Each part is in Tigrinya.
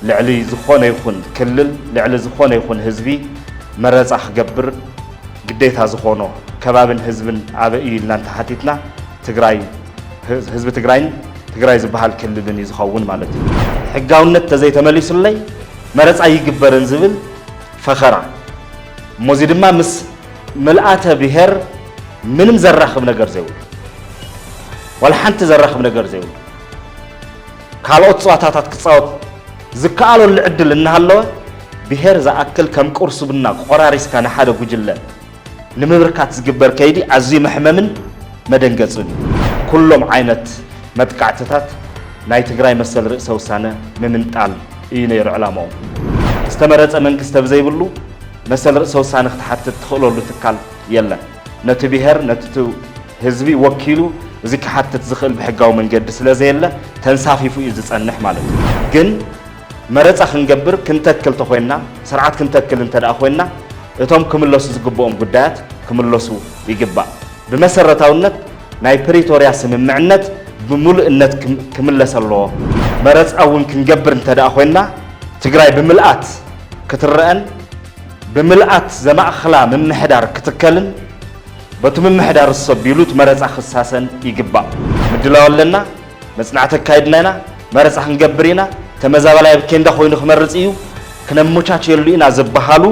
ልዕሊ ዝኾነ ይኹን ክልል ልዕሊ ዝኾነ ይኹን ህዝቢ መረፃ ክገብር ግዴታ ዝኾኖ ከባብን ህዝብን ኣበይ እዩ ኢልና እንተሓቲትና ትግራይ ህዝቢ ትግራይን ትግራይ ዝበሃል ክልልን እዩ ዝኸውን ማለት እዩ። ሕጋውነት ተዘይተመሊሱለይ መረፃ ይግበርን ዝብል ፈኸራ እሞ እዚ ድማ ምስ ምልኣተ ብሔር ምንም ዘራኽብ ነገር ዘይብሉ ዋላ ሓንቲ ዘራኽብ ነገር ዘይብሉ ካልኦት ፀዋታታት ክፃወት ዝከኣለሉ ዕድል እናሃለወ ብሄር ዝኣክል ከም ቁርስብና ቆራሪስካ ንሓደ ጉጅለ ንምብርካት ዝግበር ከይዲ ኣዝዩ መሕመምን መደንገፅን እዩ። ኩሎም ዓይነት መጥቃዕትታት ናይ ትግራይ መሰል ርእሰ ውሳነ ምምንጣል እዩ ነይሩ ዕላምኦም። ዝተመረፀ መንግስቲ ተብዘይብሉ መሰል ርእሰ ውሳነ ክትሓትት ትኽእለሉ ትካል የለን። ነቲ ብሄር ነቲ ህዝቢ ወኪሉ እዚ ክሓትት ዝኽእል ብሕጋዊ መንገዲ ስለዘየለ ተንሳፊፉ እዩ ዝፀንሕ ማለት እዩ። ግን መረፃ ክንገብር ክንተክል ተኾይንና ስርዓት ክንተክል እንተደኣ ኮይንና እቶም ክምለሱ ዝግብኦም ጉዳያት ክምለሱ ይግባእ። ብመሰረታውነት ናይ ፕሪቶርያ ስምምዕነት ብምሉእነት ክምለስ ኣለዎ። መረፃ እውን ክንገብር እንተደኣ ኮይንና ትግራይ ብምልኣት ክትረኣን ብምልኣት ዘማእኽላ ምምሕዳር ክትከልን በቱ ምምሕዳር ዝሰብዩሉ እቲ መረፃ ክሳሰን ይግባእ። ምድላው ኣለና፣ መፅናዕቲ ኣካይድና ኢና፣ መረፃ ክንገብር ኢና፣ ተመዛባላይ ኣብ ኬንዳ ኮይኑ ክመርፅ እዩ፣ ክነመቻችየሉ ኢና ዝበሃሉ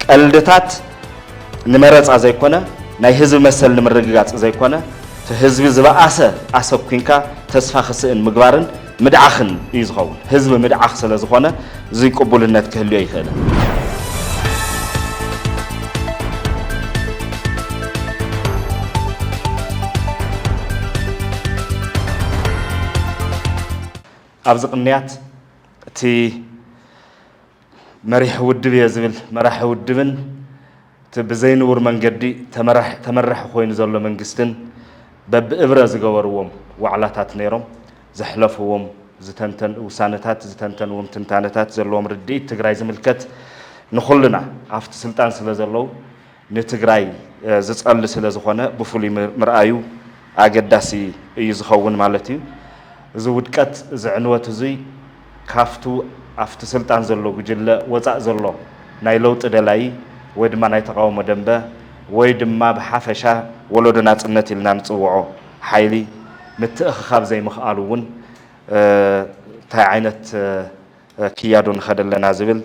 ቀልድታት ንመረፃ ዘይኮነ ናይ ህዝቢ መሰል ንምርግጋፅ ዘይኮነ እቲ ህዝቢ ዝበኣሰ ኣሰኲንካ ተስፋ ክስእን ምግባርን ምድዓኽን እዩ ዝኸውን። ህዝቢ ምድዓኽ ስለዝኾነ እዙይ ቅቡልነት ክህልዮ ኣይኽእልን። ኣብዚ ቅንያት እቲ መሪሕ ውድብ እየ ዝብል መራሒ ውድብን እቲ ብዘይንቡር መንገዲ ተመራሕ-ተመራሒ ኮይኑ ዘሎ መንግስትን በብእብረ ዝገበርዎም ዋዕላታት ነይሮም ዘሕለፍዎም ዝተንተን ውሳነታት ዝተንተንዎም ትንታነታት ዘለዎም ርድኢት ትግራይ ዝምልከት ንኹልና ኣፍቲ ስልጣን ስለ ዘለው ንትግራይ ዝጸል ስለ ዝኾነ ብፍሉይ ምርኣዩ ኣገዳሲ እዩ ዝኸውን ማለት እዩ። እዚ ውድቀት እዚ ዕንወት እዙይ ካብቱ ኣብቲ ስልጣን ዘሎ ጉጅለ ወፃእ ዘሎ ናይ ለውጢ ደላዪ ወይ ድማ ናይ ተቓውሞ ደንበ ወይ ድማ ብሓፈሻ ወለዶ ናፅነት ኢልና ንፅውዖ ሓይሊ ምትእኽኻብ ዘይምኽኣሉ እውን ታይ ዓይነት ክያዶ ንኸደ ኣለና ዝብል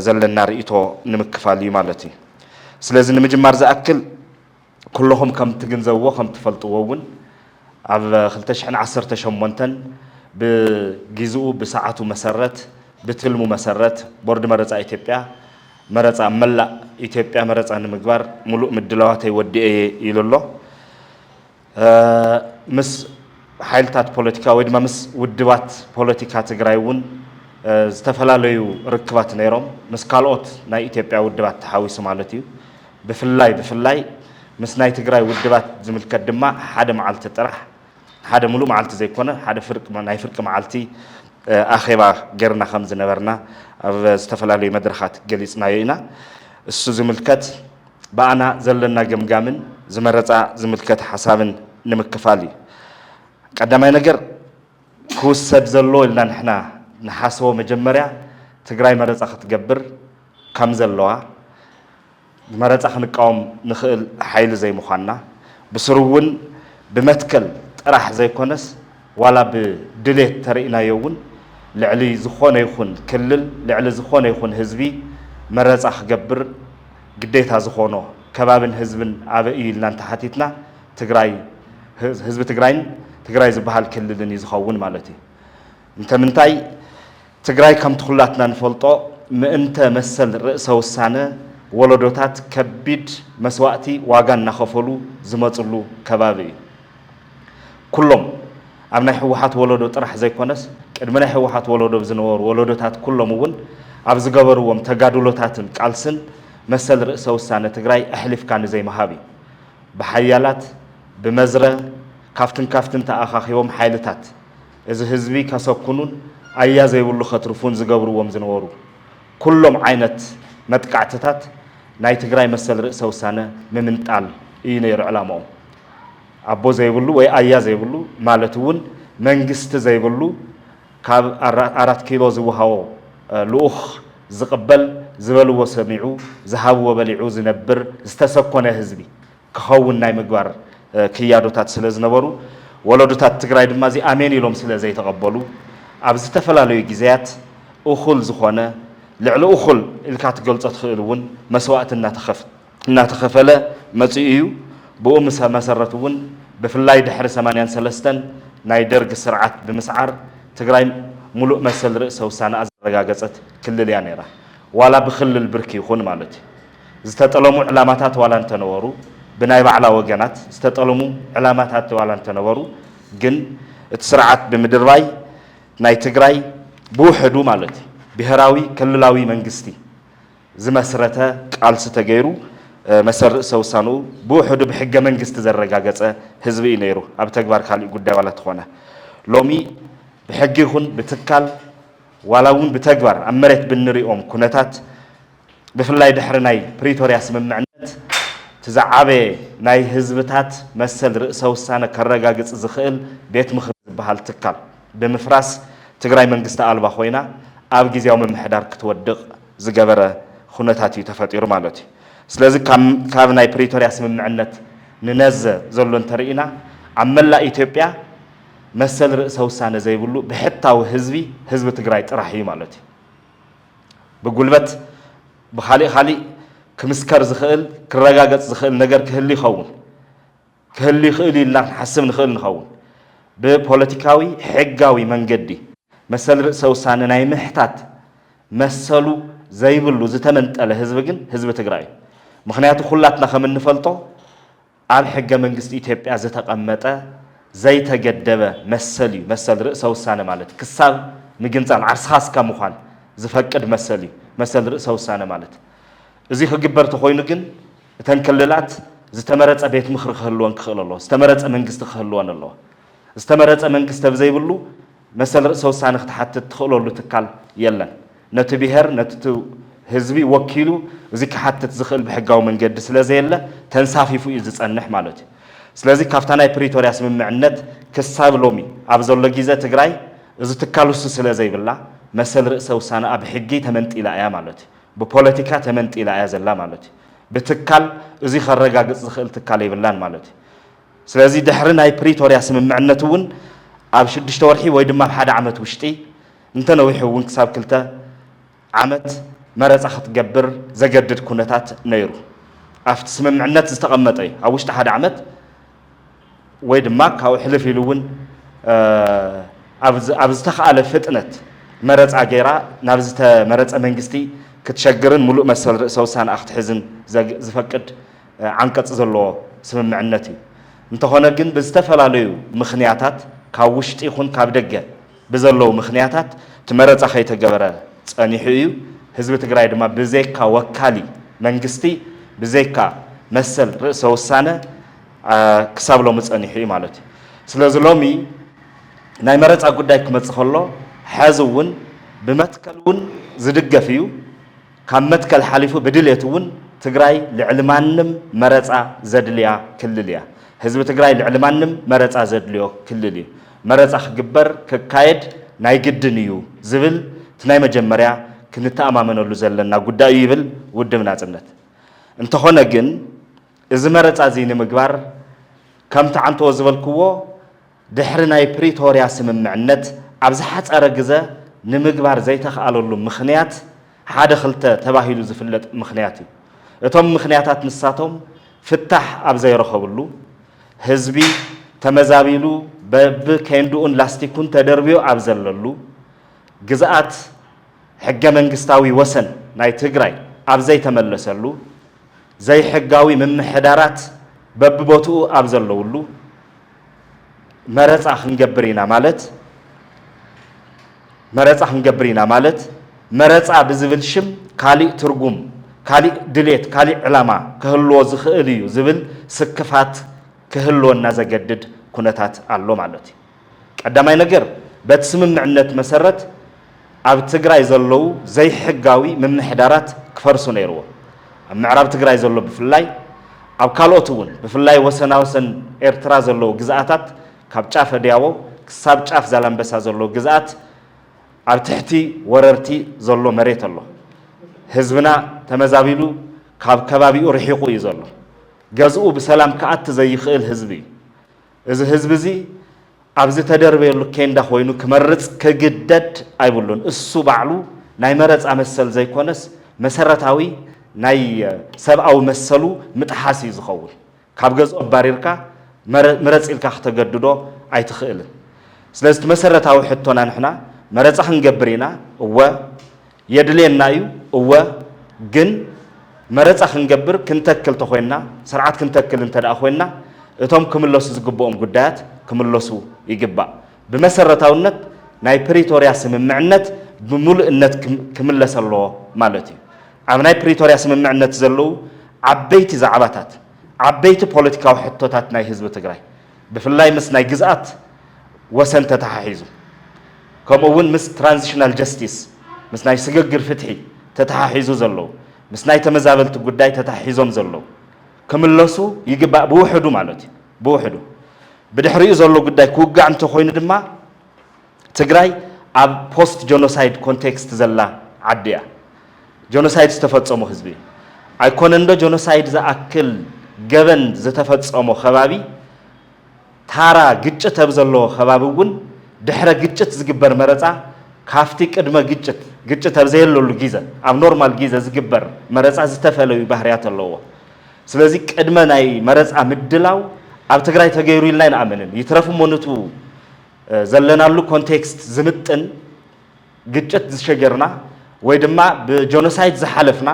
ዘለና ርኢቶ ንምክፋል እዩ ማለት እዩ። ስለዚ ንምጅማር ዝኣክል። ኩሎኹም ከም ትግንዘብዎ ከም ትፈልጥዎ እውን ኣብ ክልተ ሽሕን ዓሰርተ ሸሞንተን ብጊዝኡ ብሰዓቱ መሰረት ብትልሙ መሰረት ቦርድ መረፃ ኢትዮጵያ መረፃ ኣብ መላእ ኢትዮጵያ መረፃ ንምግባር ሙሉእ ምድላዋተይ ወዲኤ እየ ኢሉ ኣሎ። ምስ ሓይልታት ፖለቲካ ወይ ድማ ምስ ውድባት ፖለቲካ ትግራይ እውን ዝተፈላለዩ ርክባት ነይሮም፣ ምስ ካልኦት ናይ ኢትዮጵያ ውድባት ተሓዊሱ ማለት እዩ። ብፍላይ ብፍላይ ምስ ናይ ትግራይ ውድባት ዝምልከት ድማ ሓደ መዓልቲ ጥራሕ፣ ሓደ ምሉእ መዓልቲ ዘይኮነ ሓደ ፍርቂ ናይ ፍርቂ መዓልቲ ኣኼባ ገርና ከም ዝነበርና ኣብ ዝተፈላለዩ መድረኻት ገሊጽናዮ ኢና። እሱ ዝምልከት ብኣና ዘለና ገምጋምን ዝመረጻ ዝምልከት ሓሳብን ንምክፋል እዩ። ቀዳማይ ነገር፣ ክውሰድ ዘለዎ ኢልና ንሕና ንሓሰቦ መጀመርያ ትግራይ መረፃ ክትገብር ካምዘለዋ ንመረፃ ክንቃወም ንኽእል ሓይሊ ዘይምዃንና ብስሩ እውን ብመትከል ጥራሕ ዘይኮነስ ዋላ ብድሌት ተርእናዮ እውን ልዕሊ ዝኾነ ይኹን ክልል ልዕሊ ዝኾነ ይኹን ህዝቢ መረፃ ክገብር ግዴታ ዝኾኖ ከባብን ህዝብን ኣበይ እዩ ኢልና እንተሓቲትና ትግራይ ህዝቢ ትግራይን ትግራይ ዝባሃል ክልልን እዩ ዝኸውን ማለት እዩ። እንተምንታይ ትግራይ ከምቲ ኩላትና ንፈልጦ ምእንተ መሰል ርእሰ ውሳነ ወለዶታት ከቢድ መስዋእቲ ዋጋ እናኸፈሉ ዝመፅሉ ከባቢ እዩ። ኩሎም ኣብ ናይ ህወሓት ወለዶ ጥራሕ ዘይኮነስ ቅድሚ ናይ ህወሓት ወለዶ ዝነበሩ ወለዶታት ኩሎም እውን ኣብ ዝገበርዎም ተጋድሎታትን ቃልስን መሰል ርእሰ ውሳነ ትግራይ ኣሕሊፍካ ንዘይምሃብ እዩ። ብሓያላት ብመዝረ ካብትን ካብትን ተኣኻኺቦም ሓይልታት እዚ ህዝቢ ከሰኩኑን ኣያ ዘይብሉ ከትርፉን ዝገብርዎም ዝነበሩ ኩሎም ዓይነት መጥቃዕትታት ናይ ትግራይ መሰል ርእሰ ውሳነ ምምንጣል እዩ ነይሩ ዕላምኦም። ኣቦ ዘይብሉ ወይ ኣያ ዘይብሉ ማለት እውን መንግስቲ ዘይብሉ ካብ ኣራት ኪሎ ዝወሃቦ ልኡኽ ዝቕበል ዝበልዎ ሰሚዑ ዝሃብዎ በሊዑ ዝነብር ዝተሰኮነ ህዝቢ ክኸውን ናይ ምግባር ክያዶታት ስለ ዝነበሩ ወለዶታት ትግራይ ድማ እዚ ኣሜን ኢሎም ስለ ዘይተቐበሉ ኣብ ዝተፈላለዩ ግዜያት እኹል ዝኾነ ልዕሊ እኹል ኢልካ ትገልፆ ትኽእል እውን መስዋእቲ እናተኸፍ እናተኸፈለ መፂኡ እዩ። ብኡ መሰረት እውን ብፍላይ ድሕሪ ሰማንያን ሰለስተን ናይ ደርግ ስርዓት ብምስዓር ትግራይ ሙሉእ መሰል ርእሰ ውሳነኣ ዘረጋገፀት ክልል እያ ነይራ። ዋላ ብክልል ብርኪ ይኹን ማለት እዩ። ዝተጠለሙ ዕላማታት ዋላ እንተነበሩ ብናይ ባዕላ ወገናት ዝተጠልሙ ዕላማታት ዋላ እንተነበሩ ግን እቲ ስርዓት ብምድርባይ ናይ ትግራይ ብውሕዱ ማለት እዩ ብሄራዊ ክልላዊ መንግስቲ ዝመስረተ ቃልሲ ተገይሩ መሰል ርእሰ ውሳንኡ ብውሕዱ ብሕገ መንግስቲ ዘረጋገጸ ህዝቢ እዩ ነይሩ ኣብ ተግባር ካሊእ ጉዳይ ዋላ ተኾነ ሎሚ ብሕጊ ይኹን ብትካል ዋላ እውን ብተግባር ኣብ መሬት ብንሪኦም ኩነታት ብፍላይ ድሕሪ ናይ ፕሪቶርያ ስምምዕነት እቲ ዝዓበየ ናይ ህዝብታት መሰል ርእሰ ውሳነ ከረጋግጽ ዝኽእል ቤት ምኽሪ ዝበሃል ትካል ብምፍራስ ትግራይ መንግስቲ ኣልባ ኮይና ኣብ ግዝያዊ ምምሕዳር ክትወድቕ ዝገበረ ኹነታት እዩ ተፈጢሩ ማለት እዩ። ስለዚ ካብ ናይ ፕሪቶርያ ስምምዕነት ንነዘ ዘሎ እንተርኢና ኣብ መላእ ኢትዮጵያ መሰል ርእሰ ውሳነ ዘይብሉ ብሕታዊ ህዝቢ ህዝቢ ትግራይ ጥራሕ እዩ ማለት እዩ። ብጉልበት ብኻሊእ ኻሊእ ክምስከር ዝኽእል ክረጋገፅ ዝኽእል ነገር ክህሊ ይኸውን ክህሉ ይኽእል'ዩ ኢልና ክንሓስብ ንኽእል ንኸውን። ብፖለቲካዊ ሕጋዊ መንገዲ መሰል ርእሰ-ውሳነ ናይ ምሕታት መሰሉ ዘይብሉ ዝተመንጠለ ህዝቢ ግን ህዝቢ ትግራይ'ዩ። ምኽንያቱ ኩላትና ከም እንፈልጦ ኣብ ሕገ-መንግስቲ ኢትዮጵያ ዝተቐመጠ ዘይተገደበ መሰል'ዩ መሰል ርእሰ-ውሳነ ማለት። ክሳብ ምግንጻል ዓርስኻ እስካ ምዃን ዝፈቅድ መሰል'ዩ መሰል ርእሰ-ውሳነ ማለት። እዚ ክግበር ተኾይኑ ግን፣ እተን ክልላት ዝተመረፀ ቤት ምኽሪ ክህልወን ክኽእል ኣለዎ። ዝተመረፀ መንግስቲ ክህልወን ኣለዎ። ዝተመረፀ መንግስቲ ኣብ ዘይብሉ መሰል ርእሰ ውሳነ ክትሓትት ትኽእለሉ ትካል የለን። ነቲ ብሄር ነቲ ህዝቢ ወኪሉ እዚ ክሓትት ዝኽእል ብሕጋዊ መንገዲ ስለ ዘየለ ተንሳፊፉ እዩ ዝፀንሕ ማለት እዩ። ስለዚ ካብታ ናይ ፕሪቶርያ ስምምዕነት ክሳብ ሎሚ ኣብ ዘሎ ጊዘ ትግራይ እዚ ትካል እሱ ስለ ዘይብላ መሰል ርእሰ ውሳነኣ ብሕጊ ተመንጢላ እያ ማለት እዩ። ብፖለቲካ ተመንጢላ እያ ዘላ ማለት እዩ። ብትካል እዙይ ከረጋግፅ ዝኽእል ትካል የብላን ማለት እዩ። ስለዚ ድሕሪ ናይ ፕሪቶርያ ስምምዕነት እውን ኣብ ሽዱሽተ ወርሒ ወይ ድማ ኣብ ሓደ ዓመት ውሽጢ እንተነዊሑ እውን ክሳብ ክልተ ዓመት መረፃ ክትገብር ዘገድድ ኩነታት ነይሩ። ኣብቲ ስምምዕነት ዝተቐመጠ እዩ። ኣብ ውሽጢ ሓደ ዓመት ወይ ድማ ካብኡ ሕልፍ ኢሉ እውን ኣብ ዝተኽኣለ ፍጥነት መረፃ ገይራ ናብ ዝተመረፀ መንግስቲ ክትሸግርን ሙሉእ መሰል ርእሰ ውሳነኣ ክትሕዝን ዝፈቅድ ዓንቀፅ ዘለዎ ስምምዕነት እዩ። እንተኾነ ግን ብዝተፈላለዩ ምኽንያታት ካብ ውሽጢ ይኹን ካብ ደገ፣ ብዘለዉ ምኽንያታት እቲ መረፃ ከይተገበረ ፀኒሑ እዩ። ህዝቢ ትግራይ ድማ ብዘይካ ወካሊ መንግስቲ፣ ብዘይካ መሰል ርእሰ ውሳነ ክሳብ ሎሚ ፀኒሑ እዩ ማለት እዩ። ስለዚ ሎሚ ናይ መረፃ ጉዳይ ክመፅእ ከሎ ሐዚ እውን ብመትከል እውን ዝድገፍ እዩ። ካብ መትከል ሓሊፉ ብድሌት እውን ትግራይ ልዕሊ ማንም መረፃ ዘድልያ ክልል እያ። ህዝቢ ትግራይ ልዕሊ ማንም መረፃ ዘድልዮ ክልል እዩ። መረፃ ክግበር፣ ክካየድ፣ ናይ ግድን እዩ ዝብል እቲ ናይ መጀመርያ ክንተኣማመነሉ ዘለና ጉዳይ እዩ ይብል ውድብ ናፅነት። እንተኾነ ግን እዚ መረፃ እዚ ንምግባር ከምቲ ዓንተዎ ዝበልክዎ ድሕሪ ናይ ፕሪቶርያ ስምምዕነት ኣብ ዝሓፀረ ግዘ ንምግባር ዘይተኽኣለሉ ምኽንያት ሓደ ክልተ ተባሂሉ ዝፍለጥ ምኽንያት እዩ። እቶም ምኽንያታት ንሳቶም፣ ፍታሕ ኣብ ዘይረኸብሉ፣ ህዝቢ ተመዛቢሉ በቢ ኬንድኡን ላስቲኩን ተደርብዩ ኣብ ዘለሉ፣ ግዝኣት ሕገ መንግስታዊ ወሰን ናይ ትግራይ ኣብ ዘይተመለሰሉ፣ ዘይሕጋዊ ምምሕዳራት በቢቦትኡ ኣብ ዘለውሉ፣ መረፃ ክንገብር ኢና ማለት፣ መረፃ ክንገብር ኢና ማለት መረፃ ብዝብል ሽም ካሊእ ትርጉም፣ ካሊእ ድሌት፣ ካሊእ ዕላማ ከህልዎ ዝኽእል እዩ ዝብል ስክፋት ክህልወና ዘገድድ ኩነታት ኣሎ ማለት እዩ። ቀዳማይ ነገር በቲ ስምምዕነት መሰረት ኣብ ትግራይ ዘለዉ ዘይሕጋዊ ምምሕዳራት ክፈርሱ ነይርዎም። ኣብ ምዕራብ ትግራይ ዘሎ ብፍላይ ኣብ ካልኦት እውን ብፍላይ ወሰናወሰን ኤርትራ ዘለዉ ግዝኣታት ካብ ጫፍ ኣድያቦ ክሳብ ጫፍ ዛላምበሳ ዘሎ ግዝኣት ኣብ ትሕቲ ወረርቲ ዘሎ መሬት ኣሎ። ህዝብና ተመዛቢሉ ካብ ከባቢኡ ርሒቑ እዩ ዘሎ። ገዝኡ ብሰላም ክኣቲ ዘይኽእል ህዝቢ እዩ። እዚ ህዝቢ እዚ ኣብ ዝተደርበየሉ ኬንዳ ኮይኑ ክመርፅ ክግደድ ኣይብሉን። እሱ ባዕሉ ናይ መረፃ መሰል ዘይኮነስ መሰረታዊ ናይ ሰብኣዊ መሰሉ ምጥሓስ እዩ ዝኸውን። ካብ ገዝኦ ኣባሪርካ ምረጽ ኢልካ ክተገድዶ ኣይትኽእልን። ስለዚ እቲ መሰረታዊ ሕቶና ንሕና መረጻ ክንገብር ኢና፣ እወ። የድልየና እዩ፣ እወ። ግን መረጻ ክንገብር ክንተክል ተኾይንና፣ ስርዓት ክንተክል እንተድኣ ኮይንና እቶም ክምለሱ ዝግብኦም ጉዳያት ክምለሱ ይግባእ። ብመሰረታውነት ናይ ፕሪቶርያ ስምምዕነት ብሙሉእነት ክምለስ ኣለዎ ማለት እዩ። ኣብ ናይ ፕሪቶርያ ስምምዕነት ዘለዉ ዓበይቲ ዛዕባታት፣ ዓበይቲ ፖለቲካዊ ሕቶታት ናይ ህዝቢ ትግራይ ብፍላይ ምስ ናይ ግዝኣት ወሰን ተተሓሒዙ ከምኡ እውን ምስ ትራንዚሽናል ጀስቲስ ምስ ናይ ስግግር ፍትሒ ተተሓሒዙ ዘለዉ ምስ ናይ ተመዛበልቲ ጉዳይ ተተሓሒዞም ዘለዉ ክምለሱ ይግባእ ብውሕዱ ማለት እዩ ብውሕዱ ብድሕሪኡ ዘሎ ጉዳይ ክውጋዕ እንተኾይኑ ድማ ትግራይ ኣብ ፖስት ጆኖሳይድ ኮንቴክስት ዘላ ዓዲ እያ። ጆኖሳይድ ዝተፈፀሞ ህዝቢ እዩ። ኣይኮነንዶ ጆኖሳይድ ዝኣክል ገበን ዝተፈፀሞ ከባቢ ታራ ግጭት ኣብ ዘለዎ ከባቢ እውን ድሕረ ግጭት ዝግበር መረፃ ካፍቲ ቅድመ ግጭት ግጭት ኣብ ዘየለሉ ጊዘ ኣብ ኖርማል ጊዘ ዝግበር መረፃ ዝተፈለዩ ባህርያት ኣለዎ። ስለዚ ቅድመ ናይ መረፃ ምድላው ኣብ ትግራይ ተገይሩ ኢልና ኣይንኣምንን። ይትረፍ እሞ ንቱ ዘለናሉ ኮንቴክስት ዝምጥን ግጭት ዝሸገርና ወይ ድማ ብጆኖሳይድ ዝሓለፍና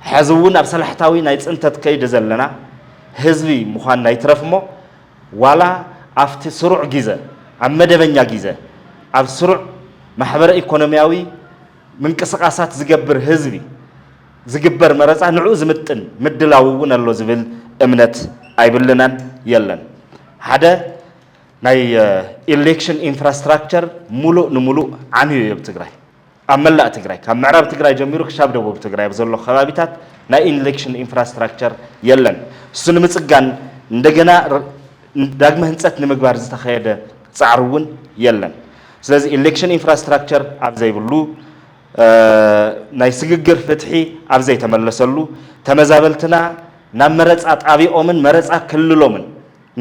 ሐዚ እውን ኣብ ሰላሕታዊ ናይ ፅንተት ከይዲ ዘለና ህዝቢ ምዃንና ይትረፍ እሞ ዋላ ኣብቲ ስሩዕ ጊዘ ኣብ መደበኛ ጊዘ ኣብ ስሩዕ ማሕበረ ኢኮኖሚያዊ ምንቅስቃሳት ዝገብር ህዝቢ ዝግበር መረፃ ንዕኡ ዝምጥን ምድላው እውን ኣሎ ዝብል እምነት ኣይብልናን የለን ሓደ ናይ ኢሌክሽን ኢንፍራስትራክቸር ሙሉእ ንሙሉእ ዓንዩ እዮ ብትግራይ ኣብ መላእ ትግራይ ካብ ምዕራብ ትግራይ ጀሚሩ ክሻብ ደቡብ ትግራይ ኣብ ዘሎ ከባቢታት ናይ ኢሌክሽን ኢንፍራስትራክቸር የለን እሱ ንምፅጋን እንደገና ዳግመ ህንፀት ንምግባር ዝተኸየደ ፃዕሪ እውን የለን ስለዚ ኢሌክሽን ኢንፍራስትራክቸር ኣብ ዘይብሉ ናይ ስግግር ፍትሒ ኣብ ዘይተመለሰሉ ተመዛበልትና ናብ መረፃ ጣቢኦምን መረፃ ክልሎምን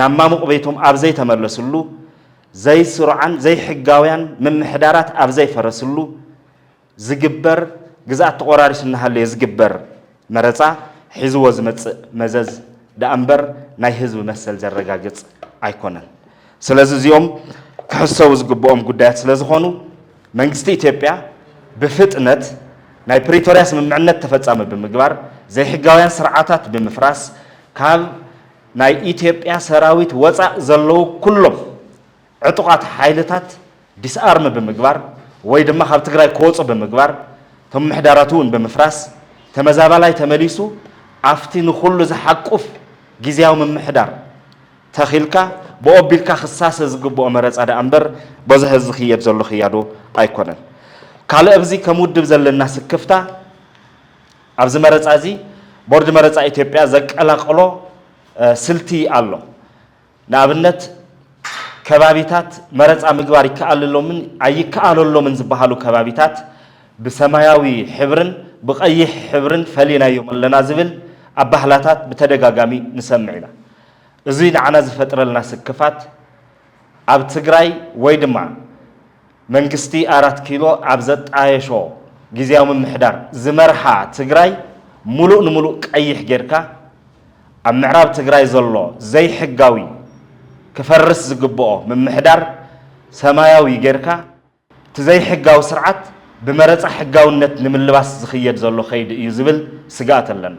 ናብ ማሙቕ ቤቶም ኣብ ዘይተመለስሉ፣ ዘይስሩዓን ዘይሕጋውያን ምምሕዳራት ኣብ ዘይፈረስሉ ዝግበር ግዝኣት ተቖራሪሱ እናሃለየ ዝግበር መረፃ ሒዝዎ ዝመፅእ መዘዝ ደኣ እምበር ናይ ህዝቢ መሰል ዘረጋግፅ ኣይኮነን። ስለዚ እዚኦም ክሕሰቡ ዝግበኦም ጉዳያት ስለዝኾኑ መንግስቲ ኢትዮጵያ ብፍጥነት ናይ ፕሪቶርያ ስምምዕነት ተፈፃሚ ብምግባር ዘይሕጋውያን ስርዓታት ብምፍራስ ካብ ናይ ኢትዮጵያ ሰራዊት ወፃእ ዘለዉ ኩሎም ዕጡቓት ሓይልታት ዲስኣርም ብምግባር ወይ ድማ ካብ ትግራይ ክወፁ ብምግባር እቶም ምሕዳራት እውን ብምፍራስ ተመዛባላይ ተመሊሱ ኣፍቲ ንኹሉ ዝሓቁፍ ጊዚያዊ ምምሕዳር ተኺልካ ብኡ ኣቢልካ ክሳሰ ዝግብኦ መረፃ ድኣ እምበር በዚ ሐዚ ዝኽየድ ዘሎ ክያዶ ኣይኮነን። ካልእ ኣብዚ ከም ውድብ ዘለና ስክፍታ፣ ኣብዚ መረፃ እዚ ቦርድ መረፃ ኢትዮጵያ ዘቀላቀሎ ስልቲ ኣሎ። ንኣብነት ከባቢታት መረፃ ምግባር ይከኣለሎምን ኣይከኣለሎምን ዝበሃሉ ከባቢታት ብሰማያዊ ሕብርን ብቐይሕ ሕብርን ፈሊናዮም ኣለና ዝብል ኣባህላታት ብተደጋጋሚ ንሰምዕ ኢና። እዙይ ንዓና ዝፈጥረልና ስክፋት ኣብ ትግራይ ወይ ድማ መንግስቲ ኣራት ኪሎ ኣብ ዘጣየሾ ግዝያዊ ምምሕዳር ዝመርሓ ትግራይ ሙሉእ ንሙሉእ ቀይሕ ጌርካ ኣብ ምዕራብ ትግራይ ዘሎ ዘይሕጋዊ ክፈርስ ዝግብኦ ምምሕዳር ሰማያዊ ጌርካ እቲ ዘይሕጋዊ ስርዓት ብመረፃ ሕጋውነት ንምልባስ ዝኽየድ ዘሎ ከይዲ እዩ ዝብል ስግኣት ኣለና።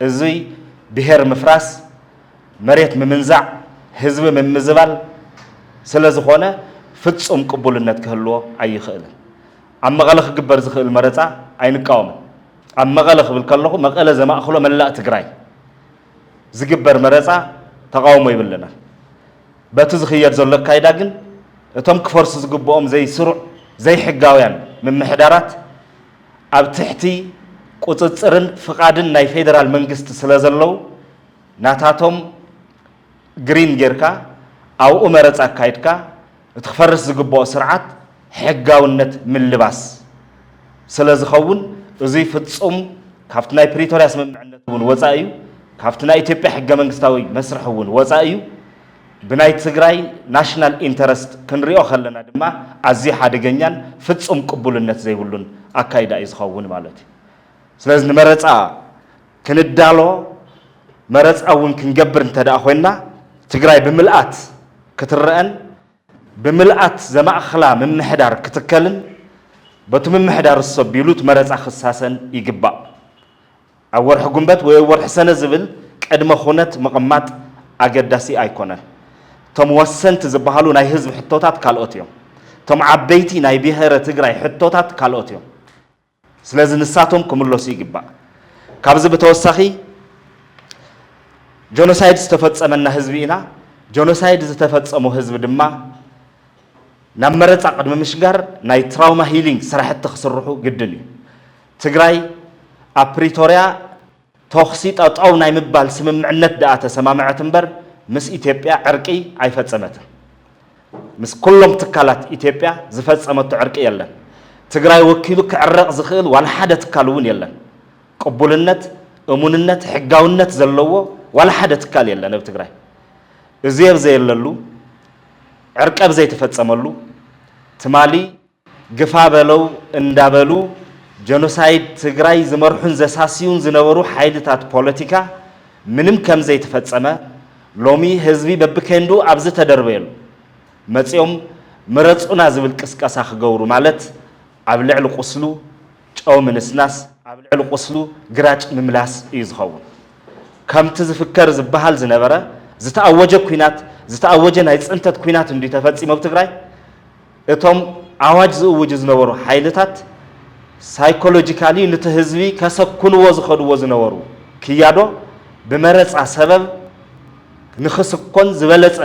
እዙይ ብሄር ምፍራስ መሬት ምምንዛዕ፣ ህዝቢ ምምዝባል ስለዝኾነ ፍፁም ቅቡልነት ክህልዎ ኣይኽእልን። ኣብ መቐለ ክግበር ዝኽእል መረፃ ኣይንቃወምን። ኣብ መቐለ ክብል ከለኹ መቐለ ዘማእኽሎ መላእ ትግራይ ዝግበር መረፃ ተቓውሞ ይብልናን። በቲ ዝኽየድ ዘሎ ኣካይዳ ግን እቶም ክፈርሱ ዝግብኦም ዘይስሩዕ ዘይሕጋውያን ምምሕዳራት ኣብ ትሕቲ ቁፅፅርን ፍቓድን ናይ ፌደራል መንግስቲ ስለዘለዉ ናታቶም ግሪን ጌርካ ኣብኡ መረፃ ኣካይድካ እቲ ክፈርስ ዝግበኦ ስርዓት ሕጋውነት ምልባስ ስለዝኸውን እዙይ ፍፁም ካብቲ ናይ ፕሪቶርያ ስምምዕነት እውን ወፃኢ እዩ። ካብቲ ናይ ኢትዮጵያ ሕገ መንግስታዊ መስርሕ እውን ወፃኢ እዩ። ብናይ ትግራይ ናሽናል ኢንተረስት ክንሪኦ ከለና ድማ ኣዝዩ ሓደገኛን ፍፁም ቅቡልነት ዘይብሉን ኣካይዳ እዩ ዝኸውን ማለት እዩ። ስለዚ ንመረፃ ክንዳሎ መረፃ እውን ክንገብር እንተድኣ ኮይንና ትግራይ ብምልኣት ክትረኣን ብምልኣት ዘማእኽላ ምምሕዳር ክትከልን በቱ ምምሕዳር እሱ ኣቢሉ እቲ መረፃ ክሳሰን ይግባእ። ኣብ ወርሒ ጉንበት ወይ ኣብ ወርሒ ሰነ ዝብል ቅድመ ኹነት ምቕማጥ ኣገዳሲ ኣይኮነን። እቶም ወሰንቲ ዝበሃሉ ናይ ህዝቢ ሕቶታት ካልኦት እዮም። እቶም ዓበይቲ ናይ ብሄረ ትግራይ ሕቶታት ካልኦት እዮም። ስለዚ ንሳቶም ክምለሱ ይግባእ። ካብዚ ብተወሳኺ ጆኖሳይድ ዝተፈፀመና ህዝቢ ኢና። ጆኖሳይድ ዝተፈፀሞ ህዝቢ ድማ ናብ መረፃ ቅድሚ ምሽጋር ናይ ትራውማ ሂሊንግ ስራሕቲ ክስርሑ ግድን እዩ። ትግራይ ኣብ ፕሪቶርያ ተኹሲ ጠጠው ናይ ምባል ስምምዕነት ድኣ ተሰማምዐት እምበር ምስ ኢትዮጵያ ዕርቂ ኣይፈፀመትን። ምስ ኩሎም ትካላት ኢትዮጵያ ዝፈፀመቶ ዕርቂ የለን። ትግራይ ወኪሉ ክዕረቕ ዝኽእል ዋላ ሓደ ትካል እውን የለን። ቅቡልነት፣ እሙንነት፣ ሕጋውነት ዘለዎ ዋላ ሓደ ትካል የለን እብ ትግራይ። እዙይ ኣብዘየለሉ፣ ዕርቂ ኣብዘይተፈፀመሉ ትማሊ፣ ግፋ በለው እንዳበሉ ጀኖሳይድ ትግራይ ዝመርሑን ዘሳስዩን ዝነበሩ ሓይልታት ፖለቲካ ምንም ከምዘይተፈፀመ ሎሚ ህዝቢ በቢኬንድኡ ኣብ ዝተደርበየሉ መፂኦም ምረፁና ዝብል ቅስቀሳ ክገብሩ ማለት ኣብ ልዕሊ ቁስሉ ጨው ምንስናስ ኣብ ልዕሊ ቁስሉ ግራጭ ምምላስ እዩ ዝኸውን። ከምቲ ዝፍከር ዝበሃል ዝነበረ ዝተኣወጀ ኩናት ዝተኣወጀ ናይ ፅንተት ኩናት እንድዩ ተፈፂሙ ኣብ ትግራይ። እቶም ኣዋጅ ዝእውጁ ዝነበሩ ሓይልታት ሳይኮሎጂካሊ ንቲ ህዝቢ ከሰኩንዎ ዝኸድዎ ዝነበሩ ክያዶ ብመረፃ ሰበብ ንክስኮን ዝበለፀ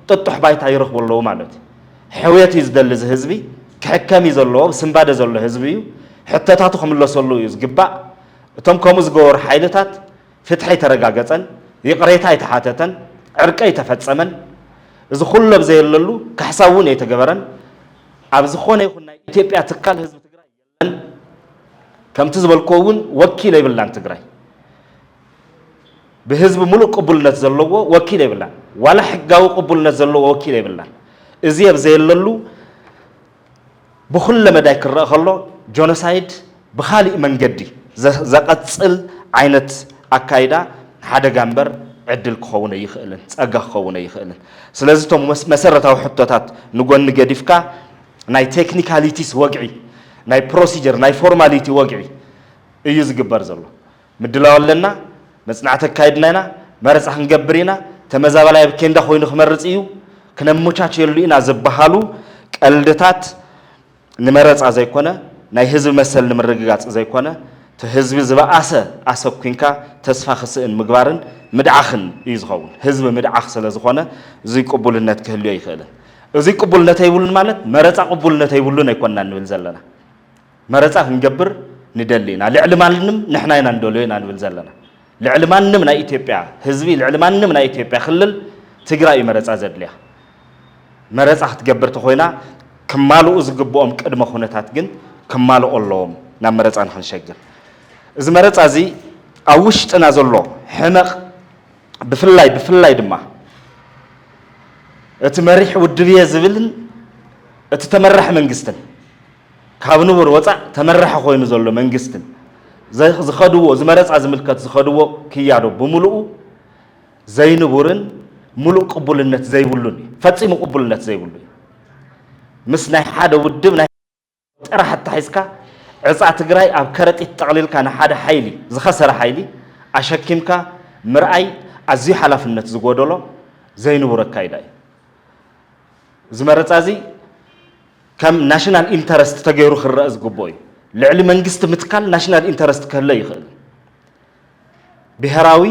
ጥጡሕ ባይታ ይረኽቡ ኣለዉ ማለት እዩ። ሕውየት እዩ ዝደሊ እዚ ህዝቢ፣ ክሕከም እዩ ዘለዎ፣ ኣብ ስንባደ ዘሎ ህዝቢ እዩ፣ ሕቶታቱ ክምለሰሉ እዩ ዝግባእ፣ እቶም ከምኡ ዝገበሩ ሓይልታት ፍትሒ ኣይተረጋገጸን፣ ይቕሬታ ኣይተሓተተን፣ ዕርቂ ኣይተፈጸመን፣ እዚ ኩሉ ኣብ ዘየለሉ ካሕሳ እውን ኣይተገበረን፣ ኣብ ዝኾነ ይኹን ናይ ኢትዮጵያ ትካል ህዝቢ ትግራይ የለን፣ ከምቲ ዝበልክዎ እውን ወኪል የብላን ትግራይ፣ ብህዝቢ ሙሉእ ቅቡልነት ዘለዎ ወኪል የብላን፣ ዋላ ሕጋዊ ቅቡልነት ዘለዎ ወኪል የብላን፣ እዚ ኣብ ዘየለሉ ብኹለ መዳይ ክረኣ ከሎ ጆኖሳይድ ብኻሊእ መንገዲ ዘቐፅል ዓይነት ኣካይዳ ሓደጋ እምበር ዕድል ክኸውን ኣይኽእልን፣ ፀጋ ክኸውን ኣይኽእልን። ስለዚ እቶም መሰረታዊ ሕቶታት ንጎኒ ገዲፍካ ናይ ቴክኒካሊቲስ ወግዒ፣ ናይ ፕሮሲጀር፣ ናይ ፎርማሊቲ ወግዒ እዩ ዝግበር ዘሎ። ምድላው ኣለና፣ መጽናዕቲ ኣካይድና ኢና፣ መረጻ ክንገብር ኢና፣ ተመዛባላይ ኣብ ኬንዳ ኮይኑ ክመርጽ እዩ፣ ክነመቻችየሉ ኢና ዝበሃሉ ቀልድታት ንመረጻ ዘይኮነ ናይ ህዝቢ መሰል ንምርግጋጽ ዘይኮነ እቲ ህዝቢ ዝበኣሰ ኣሰኲንካ ተስፋ ክስእን ምግባርን ምድዓኽን እዩ ዝኸውን። ህዝቢ ምድዓኽ ስለ ዝኾነ እዙይ ቅቡልነት ክህልዮ ኣይክእልን። እዙይ ቅቡልነት ኣይብሉን ማለት መረጻ ቅቡልነት ኣይብሉን ኣይኮንናን ንብል ዘለና። መረጻ ክንገብር ንደሊ ኢና ልዕሊ ማንም ንሕና ኢና ንደልዮ ኢና ንብል ዘለና ልዕሊ ማንም ናይ ኢትዮጵያ ህዝቢ ልዕሊ ማንም ናይ ኢትዮጵያ ክልል ትግራይ እዩ መረጻ ዘድልያ መረጻ ክትገብር ተኾይና ክማልኡ ዝግብኦም ቅድመ ኩነታት ግን ክማልኦ ኣለዎም ናብ መረጻ ንክንሸግር እዚ መረጻ እዚ ኣብ ውሽጥና ዘሎ ሕመቕ ብፍላይ ብፍላይ ድማ እቲ መሪሕ ውድብየ ዝብልን እቲ ተመራሒ መንግስትን ካብ ንቡር ወፃእ ተመራሒ ኮይኑ ዘሎ መንግስትን ዝኸድዎ ዝመረፃ ዝምልከት ዝኸድዎ ክያዶ ብምሉኡ ዘይንቡርን ምሉእ ቅቡልነት ዘይብሉን እዩ። ፈፂሙ ቅቡልነት ዘይብሉ እዩ። ምስ ናይ ሓደ ውድብ ናይ ጥራሕ ኣታሒዝካ ዕፃ ትግራይ ኣብ ከረጢት ጠቕሊልካ ንሓደ ሓይሊ ዝኸሰረ ሓይሊ ኣሸኪምካ ምርኣይ ኣዝዩ ሓላፍነት ዝጎደሎ ዘይንቡር ኣካይዳ እዩ። እዚ መረፃ እዚ ከም ናሽናል ኢንተረስት ተገይሩ ክረኣ ዝግብኦ እዩ። ልዕሊ መንግስቲ ምትካል ናሽናል ኢንተረስት ክህለ ይኽእል እዩ። ብሄራዊ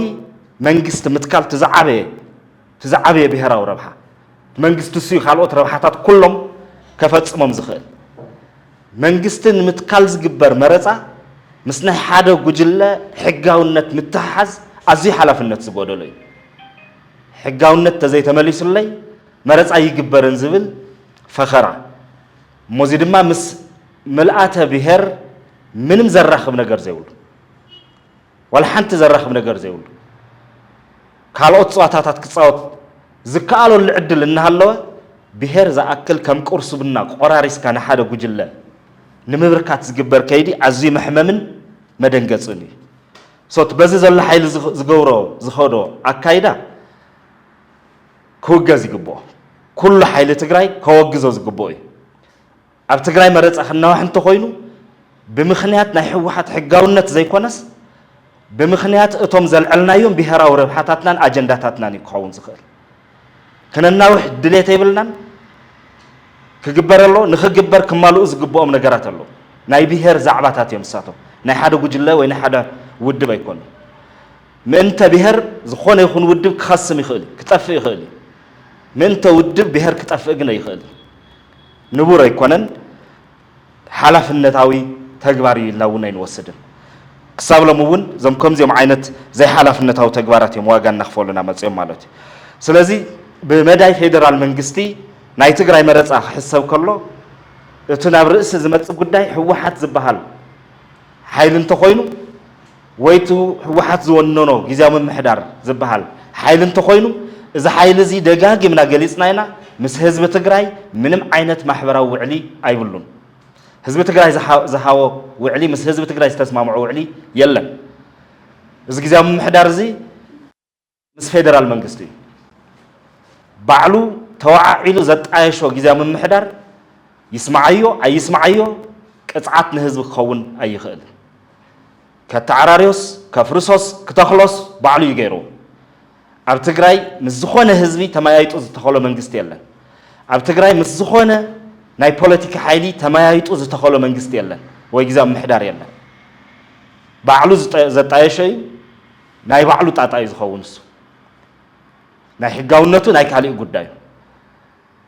መንግስቲ ምትካል እቲ ዝዓበየ እቲ ዝዓበየ ብሄራዊ ረብሓ መንግስቲ እሱ እዩ ካልኦት ረብሓታት ኩሎም ከፈፅሞም ዝኽእል። መንግስቲ ንምትካል ዝግበር መረፃ ምስ ናይ ሓደ ጉጅለ ሕጋውነት ምትሕሓዝ ኣዝዩ ሓላፍነት ዝጎደሎ እዩ። ሕጋውነት ተዘይተመሊሱለይ መረፃ ኣይግበርን ዝብል ፈኸራ እሞ እዚ ድማ ምስ ምልኣተ ብሄር ምንም ዘራኽብ ነገር ዘይብሉ ዋላ ሓንቲ ዘራኽብ ነገር ዘይብሉ ካልኦት ፀዋታታት ክፃወት ዝከኣለሉ ዕድል እናሃለወ ብሄር ዝኣክል ከም ቁርሲ ቡና ቆራሪስካ ንሓደ ጉጅለ ንምብርካት ዝግበር ከይዲ ኣዝዩ መሕመምን መደንገፅን እዩ። ሶ እቲ በዚ ዘሎ ሓይሊ ዝገብሮ ዝኸዶ ኣካይዳ ክውገዝ ይግብኦ። ኩሉ ሓይሊ ትግራይ ከወግዞ ዝግብኦ እዩ። ኣብ ትግራይ መረፃ ክናዋሕ እንተኾይኑ ብምኽንያት ናይ ህወሓት ሕጋውነት ዘይኮነስ ብምኽንያት እቶም ዘልዐልናዮም ብሄራዊ ረብሓታትናን ኣጀንዳታትናን እዩ ክኸውን ዝኽእል። ክነናውሕ ድሌት የብልናን። ክግበር ኣሎ ንክግበር ክማልኡ ዝግብኦም ነገራት ኣሎ ናይ ብሄር ዛዕባታት እዮም ንሳቶም ናይ ሓደ ጉጅለ ወይ ናይ ሓደ ውድብ ኣይኮኑ ምእንተ ብሄር ዝኾነ ይኹን ውድብ ክኸስም ይኽእል እዩ፣ ክጠፍእ ይኽእል እዩ። ምእንተ ውድብ ብሄር ክጠፍእ ግን ኣይኽእልን። ንቡር ኣይኮነን፣ ሓላፍነታዊ ተግባር እዩ ኢልና እውን ኣይንወስድን። ክሳብ ሎሚ እውን እዞም ከምዚኦም ዓይነት ዘይሓላፍነታዊ ተግባራት እዮም ዋጋ እናኽፈሉና መፂኦም ማለት እዩ። ስለዚ ብመዳይ ፌደራል መንግስቲ ናይ ትግራይ መረፃ ክሕሰብ ከሎ እቲ ናብ ርእሲ ዝመፅእ ጉዳይ ህወሓት ዝበሃል ሓይሊ እንተኾይኑ ወይ እቲ ህወሓት ዝወነኖ ግዝያዊ ምምሕዳር ዝበሃል ሓይሊ እንተኾይኑ እዚ ሓይሊ እዚ ደጋጊምና ገሊፅና ኢና ምስ ህዝቢ ትግራይ ምንም ዓይነት ማሕበራዊ ውዕሊ ኣይብሉን። ህዝቢ ትግራይ ዝሃቦ ውዕሊ ምስ ህዝቢ ትግራይ ዝተስማምዖ ውዕሊ የለን። እዚ ግዝያዊ ምምሕዳር እዚ። ምስ ፌደራል መንግስቲ ባዕሉ ተወዓዒሉ ዘጣየሾ ግዝያዊ ምምሕዳር ይስምዓዮ ኣይስምዓዮ ቅፅዓት ንህዝቢ ክኸውን ኣይኽእልን። ከተዓራርዮስ፣ ከፍርሶስ፣ ክተኽሎስ ባዕሉ እዩ ገይርዎ። ኣብ ትግራይ ምስ ዝኾነ ህዝቢ ተመያይጡ ዝተኸሎ መንግስቲ የለን። ኣብ ትግራይ ምስ ዝኾነ ናይ ፖለቲካ ሓይሊ ተመያይጡ ዝተኸሎ መንግስቲ የለን ወይ ግዝያዊ ምምሕዳር የለን። ባዕሉ ዘጣየሾ እዩ። ናይ ባዕሉ ጣጣ እዩ ዝኸውን እሱ ናይ ሕጋውነቱ ናይ ካሊእ ጉዳይ እዩ።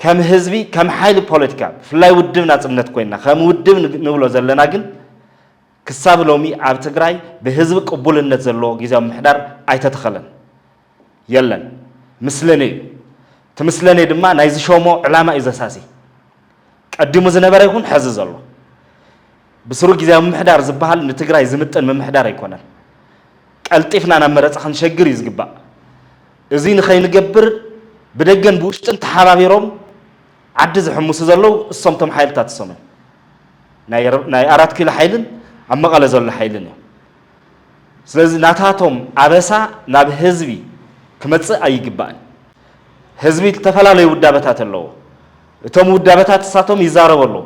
ከም ህዝቢ ከም ሓይሊ ፖለቲካ ብፍላይ ውድብ ናፅነት ኮይንና ከም ውድብ ንብሎ ዘለና ግን ክሳብ ሎሚ ኣብ ትግራይ ብህዝቢ ቅቡልነት ዘለዎ ግዜያዊ ምምሕዳር ኣይተተኸለን የለን ምስለኔ እዩ እቲ ምስለኔ ድማ ናይ ዝሾሞ ዕላማ እዩ ዘሳሲ ቀዲሙ ዝነበረ ይኹን ሐዚ ዘሎ ብስሩ ግዝያዊ ምምሕዳር ዝበሃል ንትግራይ ዝምጥን ምምሕዳር ኣይኮነን። ቀልጢፍና ናብ መረፃ ክንሸግር እዩ ዝግባእ። እዙይ ንኸይንገብር ብደገን ብውሽጥን ተሓባቢሮም ዓዲ ዝሕምሱ ዘለዉ እሶም እቶም ሓይልታት እሶም እዮም። ናይ ኣራት ኪሎ ሓይልን ኣብ መቐለ ዘሎ ሓይልን እዮም። ስለዚ ናታቶም ኣበሳ ናብ ህዝቢ ክመፅእ ኣይግባእን። ህዝቢ ዝተፈላለዩ ውዳበታት ኣለዎ። እቶም ውዳበታት እሳቶም ይዛረቡ ኣለዉ።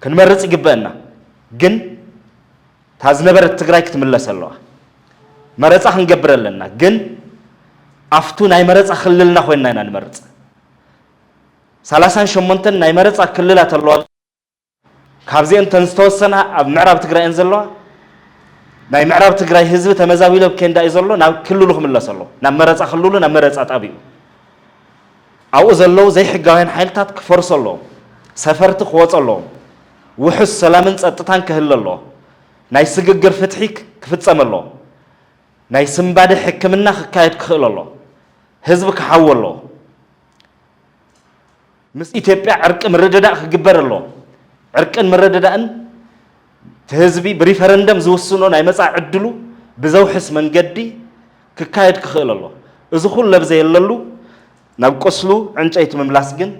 ክንመርፅ ይግበእና ግን እታ ዝነበረት ትግራይ ክትምለስ ኣለዋ መረፃ ክንገብር ኣለና ግን ኣፍቱ ናይ መረፃ ክልልና ኮይንና ኢና ንመርፅ ሰላሳን ሸሞንተን ናይ መረፃ ክልላት ኣለዋ ካብዚአን ተን ዝተወሰና ኣብ ምዕራብ ትግራይ እየን ዘለዋ ናይ ምዕራብ ትግራይ ህዝቢ ተመዛቢሎ ኬንዳ እዩ ዘሎ ናብ ክልሉ ክምለስ ኣለዎ ናብ መረፃ ክልሉ ናብ መረፃ ጣቢኡ ኣብኡ ዘለዉ ዘይሕጋውያን ሓይልታት ክፈርሱ ኣለዎም፣ ሰፈርቲ ክወጹ ኣለዎም፣ ውሑስ ሰላምን ጸጥታን ክህለ ኣለዎ፣ ናይ ስግግር ፍትሒ ክፍጸም ኣለዎ፣ ናይ ስንባደ ሕክምና ክካየድ ክኽእል ኣለዎ፣ ህዝቢ ክሓዊ ኣለዎ፣ ምስ ኢትዮጵያ ዕርቂ ምርድዳእ ክግበር ኣለዎ፣ ዕርቅን ምርድዳእን እቲ ህዝቢ ብሪፈረንደም ዝውስኖ ናይ መጻኢ ዕድሉ ብዘውሕስ መንገዲ ክካየድ ክኽእል ኣለዎ። እዚ ኩሉ ኣብ ዘየለሉ ናብ ቁስሉ ዕንጨይቲ ምምላስ ግን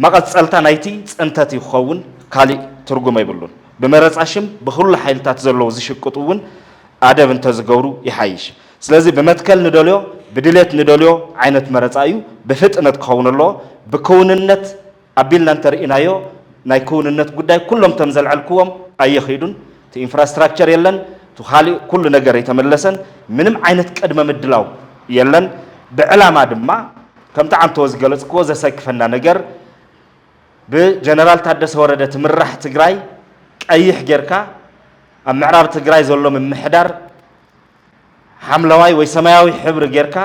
መቐጸልታ ናይቲ ጽንተት እዩ ክኸውን፣ ካሊእ ትርጉም ኣይብሉን። ብመረጻ ሽም ብኹሉ ሓይልታት ዘለዉ ዝሽቅጡ እውን ኣደብ እንተዝገብሩ ይሓይሽ። ስለዚ ብመትከል ንደልዮ ብድሌት ንደልዮ ዓይነት መረጻ እዩ፣ ብፍጥነት ክኸውን ኣለዎ፣ ብክውንነት፣ ኣቢልና እንተርኢናዮ ናይ ክውንነት ጉዳይ ኩሎም እቶም ዘልዐልክዎም ኣየኺዱን፣ እቲ ኢንፍራስትራክቸር የለን፣ እቲ ኻሊእ ኩሉ ነገር ኣይተመለሰን፣ ምንም ዓይነት ቅድመ ምድላው የለን፣ ብዕላማ ድማ ከምቲ ዓንተዎ ዝገለፅክዎ ዘሰክፈና ነገር ብጀነራል ታደሰ ወረደ ትምራሕ ትግራይ ቀይሕ ጌርካ ኣብ ምዕራብ ትግራይ ዘሎ ምምሕዳር ሓምለዋይ ወይ ሰማያዊ ሕብሪ ጌርካ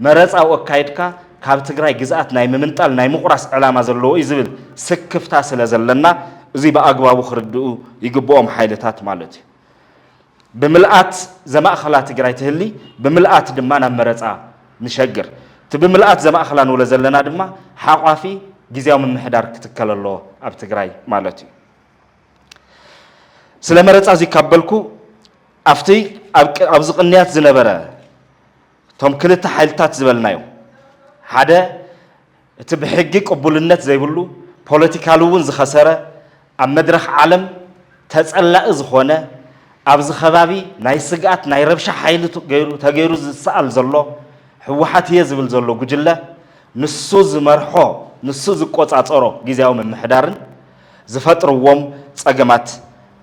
መረፃ ወካይድካ ካብ ትግራይ ግዝኣት ናይ ምምንጣል ናይ ምቑራስ ዕላማ ዘለዎ እዩ ዝብል ስክፍታ ስለ ዘለና እዙይ ብኣግባቡ ክርድኡ ይግብኦም ሓይልታት ማለት እዩ። ብምልኣት ዘማእኸላ ትግራይ ትህሊ ብምልኣት ድማ ናብ መረፃ ንሸግር። እቲ ብምልኣት ዘማእኸላ ንብሎ ዘለና ድማ ሓቋፊ ግዝያዊ ምምሕዳር ክትከል ኣለዎ ኣብ ትግራይ ማለት እዩ። ስለ መረፃ እዙይ ካብ በልኩ ኣብቲ ኣብዚ ቅንያት ዝነበረ እቶም ክልተ ሓይልታት ዝበልናዮም ሓደ እቲ ብሕጊ ቅቡልነት ዘይብሉ ፖለቲካሊ እውን ዝኸሰረ ኣብ መድረኽ ዓለም ተፀላኢ ዝኾነ ኣብዚ ከባቢ ናይ ስግኣት ናይ ረብሻ ሓይሊ ተገይሩ ዝሰኣል ዘሎ ህወሓት እየ ዝብል ዘሎ ጉጅለ ንሱ ዝመርሖ ንሱ ዝቆፃፀሮ ግዜያዊ ምምሕዳርን ዝፈጥርዎም ፀገማት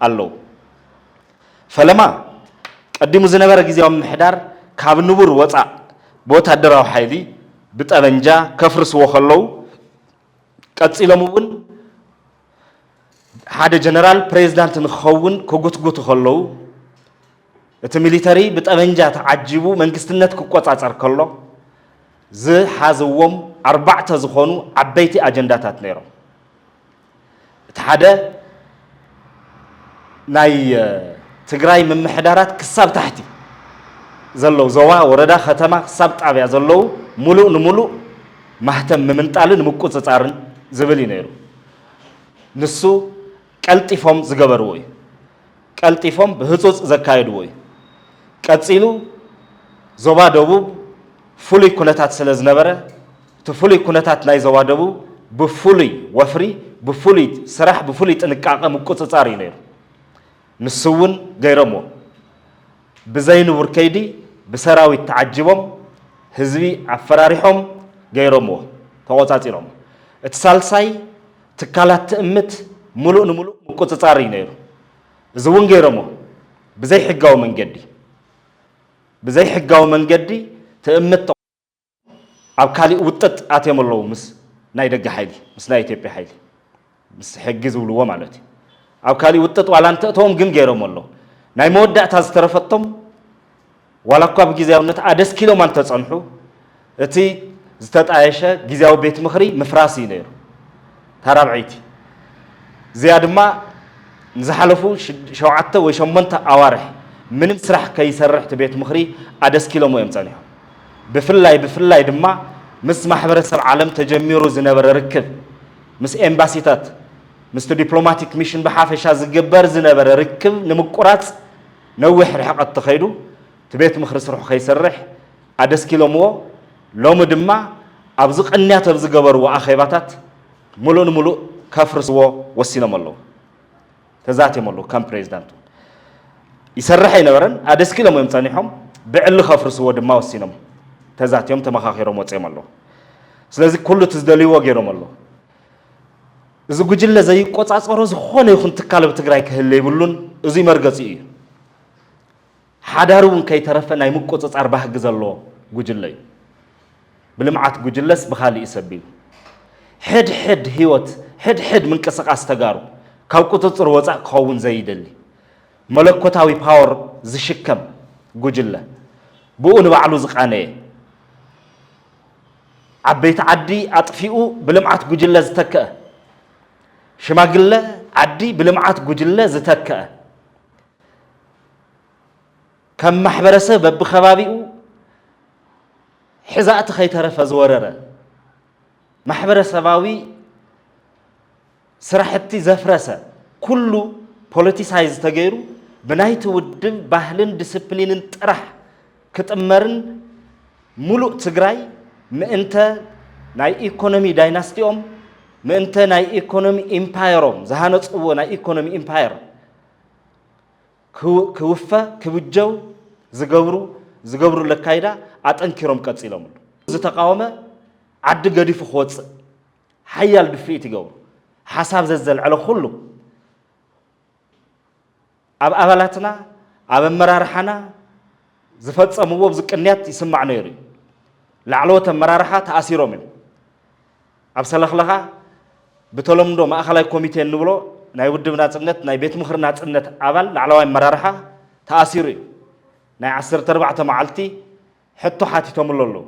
ኣለዉ። ፈለማ ቀዲሙ ዝነበረ ግዝያዊ ምምሕዳር ካብ ንቡር ወፃእ ብወታደራዊ ሓይሊ፣ ብጠበንጃ፣ ከፍርስዎ ከለዉ ቀፂሎም እውን ሓደ ጀነራል ፕሬዚዳንት ንክኸውን ክጉትጉቱ ከለዉ፣ እቲ ሚሊተሪ ብጠበንጃ ተዓጂቡ መንግስትነት ክቆፃፀር ከሎ ዝሓዝዎም ኣርባዕተ ዝኾኑ ዓበይቲ ኣጀንዳታት ነይሮም። እቲ ሓደ ናይ ትግራይ ምምሕዳራት ክሳብ ታሕቲ ዘለው ዞባ፣ ወረዳ፣ ከተማ ክሳብ ጣብያ ዘለው ሙሉእ ንሙሉእ ማህተም ምምንጣልን ምቁፅፃርን ዝብል እዩ ነይሩ። ንሱ ቀልጢፎም ዝገበርዎ እዩ። ቀልጢፎም ብህፁፅ ዘካየድዎ እዩ። ቀፂሉ ዞባ ደቡብ ፍሉይ ኩነታት ስለ ዝነበረ እቲ ፍሉይ ኩነታት ናይ ዞባ ደቡብ ብፍሉይ ወፍሪ፣ ብፍሉይ ስራሕ፣ ብፍሉይ ጥንቃቐ ምቁፅፃር እዩ ነይሩ። ንሱ እውን ገይሮምዎ። ብዘይንቡር ከይዲ ብሰራዊት ተዓጂቦም ህዝቢ ኣፈራሪሖም ገይሮምዎ፣ ተቖፃፂሮምዎ። እቲ ሳልሳይ ትካላት ትእምት ምሉእ ንምሉእ ምቁጽጻር እዩ ነይሩ። እዚ እውን ገይሮሞ ብዘይ ሕጋዊ መንገዲ ብዘይ ሕጋዊ መንገዲ ትእምት ተቋ ኣብ ካሊእ ውጥጥ ኣትዮም ኣለዉ ምስ ናይ ደገ ሓይሊ ምስ ናይ ኢትዮጵያ ሓይሊ ምስ ሕጊ ዝብልዎ ማለት እዩ ኣብ ካሊእ ውጥጥ ዋላ እንተእተዎም ግን ገይሮሞ ኣለዉ ናይ መወዳእታ ዝተረፈቶም ዋላ እኳ ብጊዜያውነት ኣደስኪሎም ኣንተጸንሑ፣ እቲ ዝተጣየሸ ጊዜያዊ ቤት ምኽሪ ምፍራስ እዩ ነይሩ። እታ ራብዐይቲ እዚኣ ድማ ንዝሓለፉ ሸውዓተ ወይ ሸሞንተ ኣዋርሕ ምንም ስራሕ ከይሰርሕ እቲ ቤት ምኽሪ ኣደስኪሎሞ እዮም ጸኒሖም። ብፍላይ ብፍላይ ድማ ምስ ማሕበረሰብ ዓለም ተጀሚሩ ዝነበረ ርክብ፣ ምስ ኤምባሲታት፣ ምስቲ ዲፕሎማቲክ ሚሽን ብሓፈሻ ዝግበር ዝነበረ ርክብ ንምቁራጽ፣ ነዊሕ ርሕቐት ተኸይዱ እቲ ቤት ምኽሪ ስርሑ ከይሰርሕ ኣደስኪሎምዎ ሎሚ ድማ ኣብዚ ቅንያት ኣብ ዝገበርዎ ኣኼባታት ምሉእ ንምሉእ ከፍርስዎ ወሲኖም ኣለዉ። ተዛትዮም ኣለዉ ከም ፕሬዚዳንት እውን። ይሰርሕ ኣይነበረን ኣደስኪሎም እዮም ፀኒሖም ብዕሊ ከፍርስዎ ድማ ወሲኖም ተዛትዮም ተመኻኺሮም ወፂኦም ኣለዉ። ስለዚ ኩሉ እቲ ዝደልይዎ ገይሮም ኣለዉ። እዚ ጉጅለ ዘይቆፃፀሮ ዝኾነ ይኹን ትካል ኣብ ትግራይ ክህለ ይብሉን እዙይ መርገፂኡ እዩ። ሓዳር እውን ከይተረፈ ናይ ምቁፅፃር ባህጊ ዘለዎ ጉጅለ እዩ። ብልምዓት ጉጅለስ ብኻሊእ እዩ ሰቢሉ። ሕድ ሕድ ህይወት፣ ሕድ ሕድ ምንቅስቃስ ተጋሩ ካብ ቁፅፅር ወፃእ ክኸውን ዘይደሊ መለኮታዊ ፓወር ዝሽከም ጉጅለ፣ ብኡ ንባዕሉ ዝቃነየ፣ ዓበይቲ ዓዲ ኣጥፊኡ ብልምዓት ጉጅለ ዝተከኣ ሽማግለ ዓዲ ብልምዓት ጉጅለ ዝተከኣ ከም ማሕበረሰብ በብከባቢኡ ሕዛእቲ ከይተረፈ ዝወረረ ማሕበረሰባዊ ስራሕቲ ዘፍረሰ ኩሉ ፖለቲሳይዝ ተገይሩ ብናይቲ ውድብ ባህልን ድስፕሊንን ጥራሕ ክጥመርን ሙሉእ ትግራይ ምእንተ ናይ ኢኮኖሚ ዳይናስቲኦም ምእንተ ናይ ኢኮኖሚ ኢምፓየሮም ዝሃነፅዎ ናይ ኢኮኖሚ ኢምፓየር ክውፈ ክብጀው ዝገብሩ ዝገብሩሉ ኣካይዳ ኣጠንኪሮም ቀፂሎምሉ። ዝተቓወመ ዓዲ ገዲፉ ክወፅእ ሓያል ድፍኢት ይገብሩ። ሓሳብ ዘዘልዐለ ኩሉ ኣብ ኣባላትና ኣብ ኣመራርሓና ዝፈፀምዎ ብዚ ቅንያት ይስማዕ ነይሩ እዩ። ላዕለዎት ኣመራርሓ ተኣሲሮም እዮም። ኣብ ሰለኽለኻ ብተለምዶ ማእኸላይ ኮሚቴ እንብሎ ናይ ውድብ ናፅነት ናይ ቤት ምኽሪ ናፅነት ኣባል ላዕለዋይ ኣመራርሓ ተኣሲሩ እዩ። ናይ ዓሰርተ ኣርባዕተ መዓልቲ ሕቶ ሓቲቶምሉ ኣለዉ።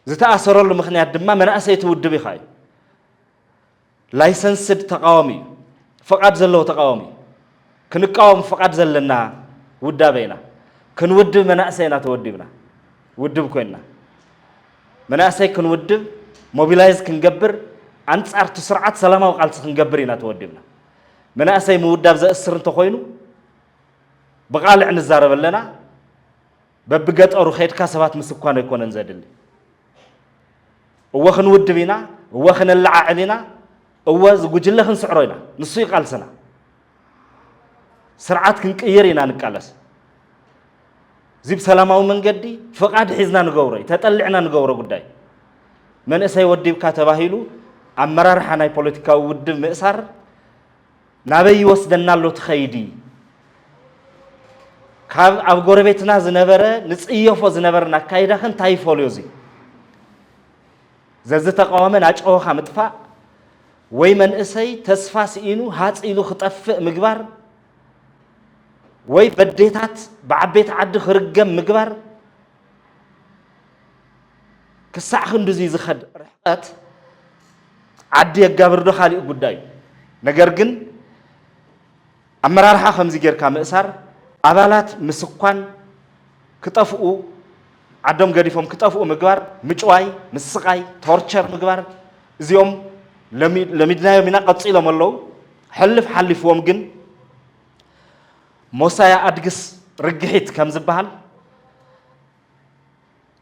ዝተኣሰረሉ ምኽንያት ድማ መናእሰይ እቲ ውድብ ኢኻ እዩ። ላይሰንስድ ተቃዋሚ እዩ። ፍቓድ ዘለዎ ተቃዋሚ እዩ። ክንቃወም ፍቓድ ዘለና ውዳበ ኢና። ክንውድብ መናእሰይ ኢና ተወዲብና ውድብ ኮይንና። መናእሰይ ክንውድብ ሞቢላይዝ ክንገብር ኣንጻር እቲ ስርዓት ሰላማዊ ቃልሲ ክንገብር ኢና ተወዲብና። መናእሰይ ምውዳብ ዘእስር እንተኾይኑ ብቓልዕ ንዛረብ ኣለና። በብገጠሩ ከድካ ሰባት ምስኳን ኣይኮነን ዘድሊ። እወ ክንውድብ ኢና፣ እወ ክነለዓዕል ኢና፣ እወ ዝጉጅለ ክንስዕሮ ኢና። ንሱ እዩ ቃልስና። ስርዓት ክንቅይር ኢና ንቃለስ። እዚ ብሰላማዊ መንገዲ ፍቓድ ሒዝና ንገብሮ እዩ፣ ተጠሊዕና ንገብሮ ጉዳይ። መንእሰይ ወዲብካ ተባሂሉ ኣመራርሓ ናይ ፖለቲካዊ ውድብ ምእሳር ናበይ ይወስደና ኣሎ እቲ ከይዲ? ካብ ኣብ ጎረቤትና ዝነበረ ንፅየፎ ዝነበርን ኣካይዳኸ እንታይ ይፈልዮ እዙይ? ዘዝተቃወመ ናጨወኻ ምጥፋእ ወይ መንእሰይ ተስፋ ስኢኑ ሃፅ ኢሉ ክጠፍእ ምግባር ወይ በዴታት ብዓበይቲ ዓዲ ክርገም ምግባር ክሳዕ ክንድዚ ዝኸድ ርሕቐት ዓዲ የጋብርዶ ካሊእ ጉዳይ እዩ። ነገር ግን ኣመራርሓ ከምዚ ጌርካ ምእሳር ኣባላት ምስኳን ክጠፍኡ ዓዶም ገዲፎም ክጠፍኡ ምግባር ምጭዋይ ምስቃይ ቶርቸር ምግባር እዚኦም ለሚድናዮም ኢና ቀፂሎም ኣለዉ ሕልፍ ሓሊፍዎም ግን ሞሳያ ኣድግስ ርግሒት ከም ዝበሃል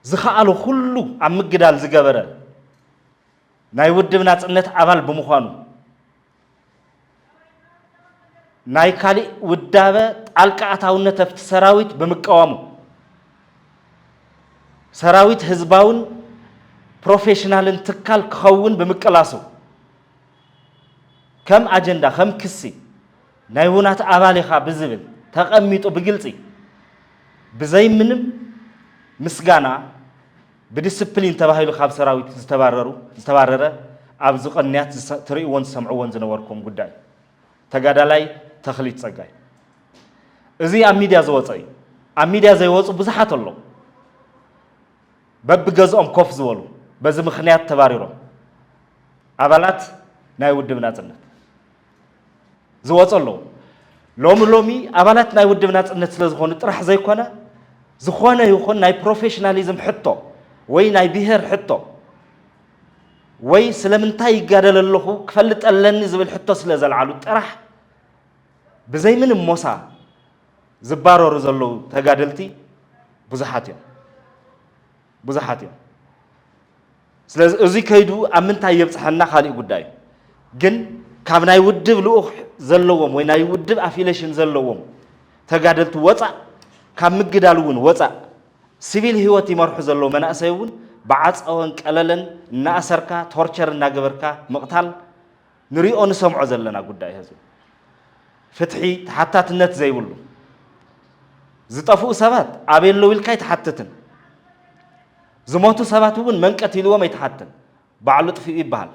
ዝኸኣሎ ኩሉ ኣብ ምግዳል ዝገበረ ናይ ውድብ ናጽነት ኣባል ብምዃኑ ናይ ካሊእ ውዳበ ጣልቃ ኣታውነት ኣብቲ ሰራዊት ብምቀዋሙ ሰራዊት ህዝባውን ፕሮፌሽናልን ትካል ክኸውን ብምቅላሱ ከም ኣጀንዳ ከም ክሲ ናይ ውናት ኣባል ኢኻ ብዝብል ተቐሚጡ ብግልፂ ብዘይምንም ምስጋና ብዲስፕሊን ተባሂሉ ካብ ሰራዊት ዝተባረሩ ዝተባረረ ኣብዚ ቕንያት ትሪእዎን ትሰምዕዎን ዝነበርኩም ጉዳይ እዩ። ተጋዳላይ ተኽሊት ፀጋይ እዚ ኣብ ሚድያ ዝወፀ እዩ። ኣብ ሚድያ ዘይወፁ ብዙሓት ኣለዉ በብገዝኦም ኮፍ ዝበሉ በዚ ምኽንያት ተባሪሮም ኣባላት ናይ ውድብ ናፅነት ዝወፁ ኣለዉ። ሎሚ ሎሚ ኣባላት ናይ ውድብ ናፅነት ስለ ዝኾኑ ጥራሕ ዘይኮነ ዝኾነ ይኹን ናይ ፕሮፌሽናሊዝም ሕቶ ወይ ናይ ብሄር ሕቶ ወይ ስለምንታይ ይጋደል ኣለኹ ክፈልጥ ኣለኒ ዝብል ሕቶ ስለ ዘልዓሉ ጥራሕ ብዘይ ምንም ሞሳ ዝባረሩ ዘለዉ ተጋደልቲ ብዙሓት እዮም። ብዙሓት እዮም ስለዚ እዚ ከይዱ ኣብ ምንታይ የብጽሐና ካሊእ ጉዳይ እዩ ግን ካብ ናይ ውድብ ልኡኽ ዘለዎም ወይ ናይ ውድብ ኣፊሌሽን ዘለዎም ተጋደልቲ ወጻእ ካብ ምግዳል እውን ወጻእ ሲቪል ህይወት ይመርሑ ዘለዉ መናእሰይ እውን ብዓፀወን ቀለለን እናእሰርካ ቶርቸር እናገበርካ ምቕታል ንሪኦ ንሰምዖ ዘለና ጉዳይ ህዝቢ ፍትሒ ተሓታትነት ዘይብሉ ዝጠፍኡ ሰባት ኣበይ ኣለዉ ኢልካ ኣይትሓትትን ዝሞቱ ሰባት እውን መን ቀቲልዎም ኣይትሓትን ባዕሉ ጥፍኡ ይበሃል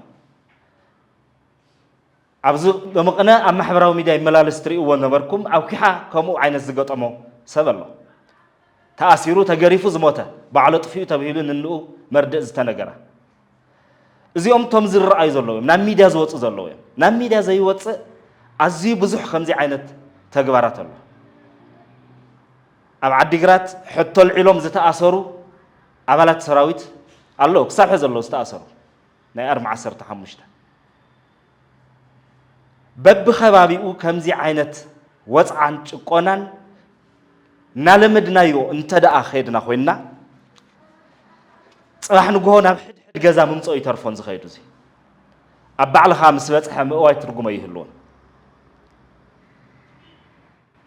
ኣብዚ መቐነ ኣብ ማሕበራዊ ሚድያ ይመላለስ ትርእይዎ ነበርኩም ኣብ ኲሓ ከምኡ ዓይነት ዝገጠሞ ሰብ ኣሎ ተኣሲሩ ተገሪፉ ዝሞተ ባዕሉ ጥፍኡ ተብሂሉ ንንኡ መርድእ ዝተነገረ እዚኦም እቶም ዝረኣዩ ዘለዉ እዮም ናብ ሚድያ ዝወፁ ዘለዉ እዮም ናብ ሚድያ ዘይወፅእ ኣዝዩ ብዙሕ ከምዚ ዓይነት ተግባራት ኣሎ ኣብ ዓዲግራት ሕቶ ልዒሎም ዝተኣሰሩ ኣባላት ሰራዊት ኣለዉ ክሳብ ሕዚ ኣለዉ ዝተኣሰሩ ናይ ኣርሚ ዓሰርተ ሓሙሽተ በብኸባቢኡ ከምዚ ዓይነት ወፅዓን ጭቆናን እናለመድናዮ እንተደኣ ከይድና ኮይንና ፅባሕ ንግሆ ናብ ሕድሕድ ገዛ ምምፀኡ ይተርፎን ዝኸይዱ እዚ ኣብ ባዕልኻ ምስ በፅሐ ምእዋይ ትርጉመ ይህልዎን